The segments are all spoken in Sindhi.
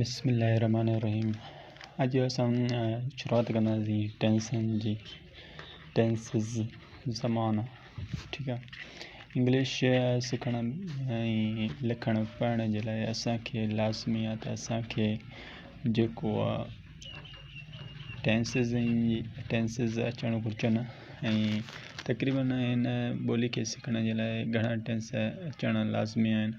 بسم الله الرحمٰن الرحيم اڄ اسان شروعات ڪنداسين ٽينسن جي ٽينسز زمانو ٺيڪ آ انگلش سکڻ ۽ لکڻ پڙهڻ جي لاء اسانکي لازمي آ ته اسانکي جيڪو آ ٽينسز ۽ ٽينسز اچڻ گهرجن ۽ تقريبن هن ٻولي کي سکڻ جي لاء گهڻا ٽينس اچڻ لازمي آهن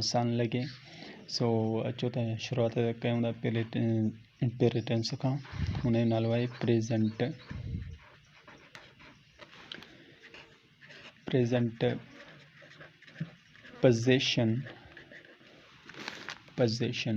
آسان لڳي سو اچو ته شروعات ڪيون ٿا پهرين پهرين ٽينس کان ان جو نالو آهي present present position position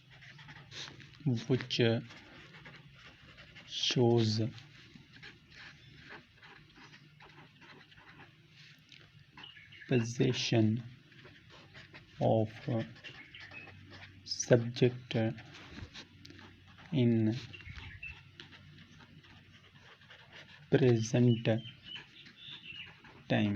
which shows position of subject in present time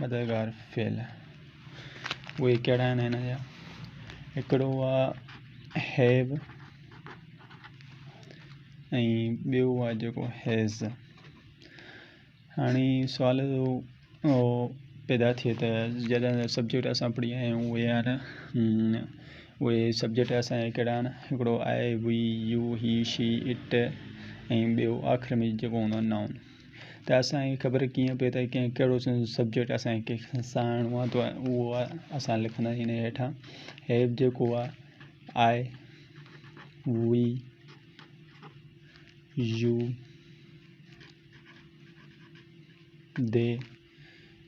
مددگار فعل اهي ڪهڙا آهن هن جا هڪڙو آهي هيو ۽ ٻيو آهي جيڪو هيز هاڻي سوال پيدا ٿئي ته جڏهن سبجيڪٽ اسان پڙهي آيا آهيون اهي آهن اهي سبجيڪٽ اسانجا ڪهڙا آهن هڪڙو آهي we you he she it ۽ ٻيو آخر ۾ جيڪو هوندو آهي نائون ته اسان کي خبر ڪيئن پئي ته ڪنهن ڪهڙو سبجيڪٽ اسان کي ڪنهن کي ساهڻو آهي ته اهو اسان لکنداسين هن هيٺان هيڊ جيڪو آهي آء وي يو دي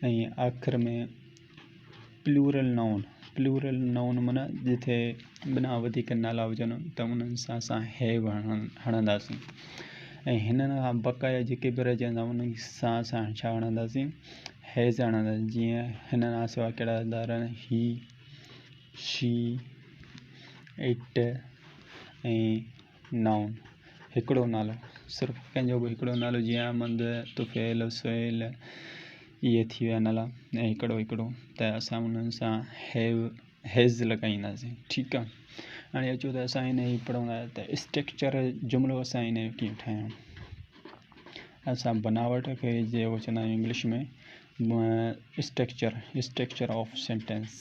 ۽ آخر ۾ پليورل نائون، Plural Noun، معنيٰ جتي ٻنا وڌيڪ نالا هجن ته انهن سان اسان Have هڻنداسين ۽ هنن کان بقايا جيڪي به رهجن ٿا انهن سان اسان ڇا هڻنداسين Has هڻنداسين جيئن هنن کان سواء ڪهڙا هلندا رهن He She It ۽ Noun، هڪڙو نالو، صرف ڪنهن جو به هڪڙو نالو جيئن احمد، طفيل، سهيل اهي ٿي ويا نالا ۽ هڪڙو هڪڙو ته اسان انهن سان Have، Has لڳائينداسين ٺيڪ آ هاڻي اچو ته اسان هن جي پڙهندا ته اسٽرڪچر جملو اسان هن جو ڪيئن ٺاهيون اسان بناوٽ کي جيڪو چوندا آهيون English ۾ structure structure of sentence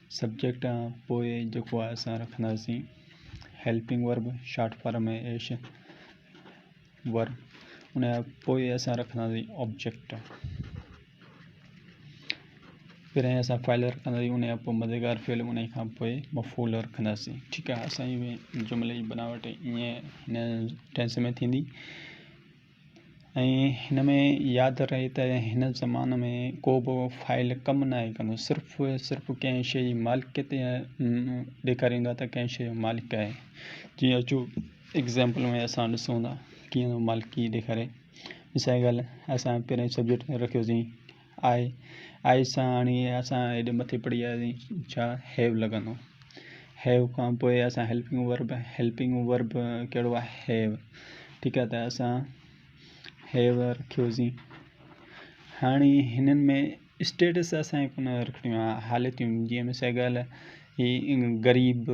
subject ۽ پوء جيڪو آهي اسان رکنداسين هيلپنگ ورب شارٽ فارم ۾ ايش ور ان کان پوء اسان رکنداسين آبجيڪٽ پھرين اسان فائل رکنداسين ان کان پوء مددگار فعل ان کان پوء مفعول رکنداسين ٺيڪ آهي اسان جي جملي جي بناوٽ ائين هن ٽينس ۾ ٿيندي ۽ هن ۾ ياد رهي ته هن زمان ۾ ڪو به فائل ڪم ناهي ڪندو صرف صرف ڪنهن شيء جي مالڪيت ڏيکاريندو آهي ته ڪنهن شيء جو مالڪ آهي جي اچو ايگزامپل ۾ اسان ڏسون ٿا ڪيئن مالڪي ڏيکاري مثال جي ڳالهه اسان پهريان سبجيڪٽ ۾ رکيوسين آهي آهي سا هاڻي اسان هيڏي مٿي پڙهي آيا آهيون ڇا هيو لڳندو هيو کان پوء اسان هيلپنگ ورب هيلپنگ ورب ڪهڙو آهي هيو ٺيڪ آهي ته اسان هيو رکيوسين هاڻي هنن ۾ اسٽيٽس اسانکي ڪونه رکڻيون آهي حالتيون جي مثال ڳالهه هي غريب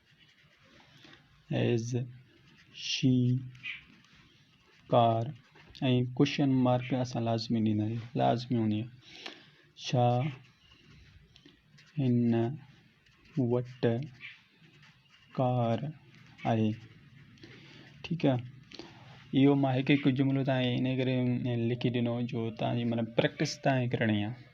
ايز شي ڪار ۽ ڪوشچن مارڪ اسان لازمي ڏيندا آهيون لازمي هوندي آهي ڇا هن وٽ ڪار آهي ٺيڪ آهي اهو ماهي ڪي ڪجھ جملو تاهي انهي ڪري لکي ڏنو جو تاهي مطلب پريڪٽس تاهي ڪرڻي آهي